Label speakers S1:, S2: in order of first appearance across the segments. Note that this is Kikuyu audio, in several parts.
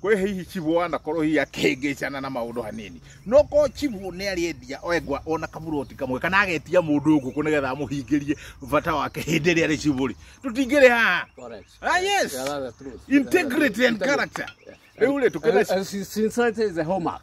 S1: kwä hihi chibu anakorwo hihi akĩngĩcana na maũndũ hanini no ko chibu nĩ arĩendia engwa ona kamuroti kamwe kana agetia mũndũ ngũkũ nĩ getha amũhingĩrie bata wake hĩndĩ ĩrĩa arĩ chibu rĩ tũtingĩrĩ haha Correct. Ah, yes. Yeah, that's the truth. integrity and character rĩu rĩ tũkĩna And, and sincerity is a hallmark.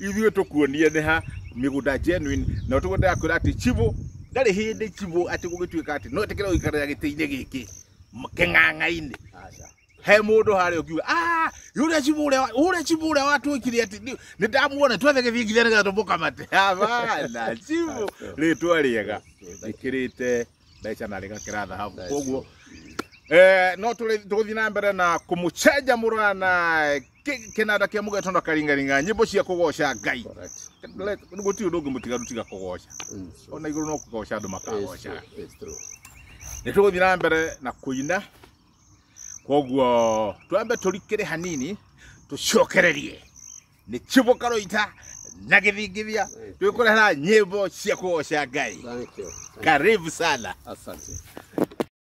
S1: ithuĩ tũkuonie nĩ ha mĩgũnda genuine na ũtuko ndakwĩra atĩ chivo ndarĩ hĩndĩ chivo atĩ gũgĩtuĩka atĩ no ĩtĩkĩre gũikarĩra gĩtĩ-inĩ gĩkĩ m- kĩng'ang'a-inĩ Aca. he mũndũ harĩa ũkiuga "Ah, yule chivo ũrĩa wa- ũrĩa chivo ũrĩa watwĩkire atĩ nĩ- nĩ ndamuona twethe gĩthiĩ nginya nĩgetha tũmũkamate abana chivo rĩtwa rĩega njĩkĩrĩte mbeca na rĩgakĩra thahabu That's koguo Eh, no tũrĩ- tũgũthiĩ na mbere na kũmũcenja mũrana Kĩ- kĩnanda kĩa mũgeto na karingaringa nyĩmbo cia kũgoca ngai Correct. gũtirĩ ũndũ ũngĩ mũtigaru tiga kũgoca Mm, sure. ona igũrũ no kũgoca andũ It's makagocaga true. It's true. nä tå gå thiä na mbere na kå ina koguo twambe tå rikere hanini tå cokererie nä cibå karå ita na gä thingithia twä kå rehera nyä mbo cia kå goca ngai Thank you. Thank you. karibu sana Asante.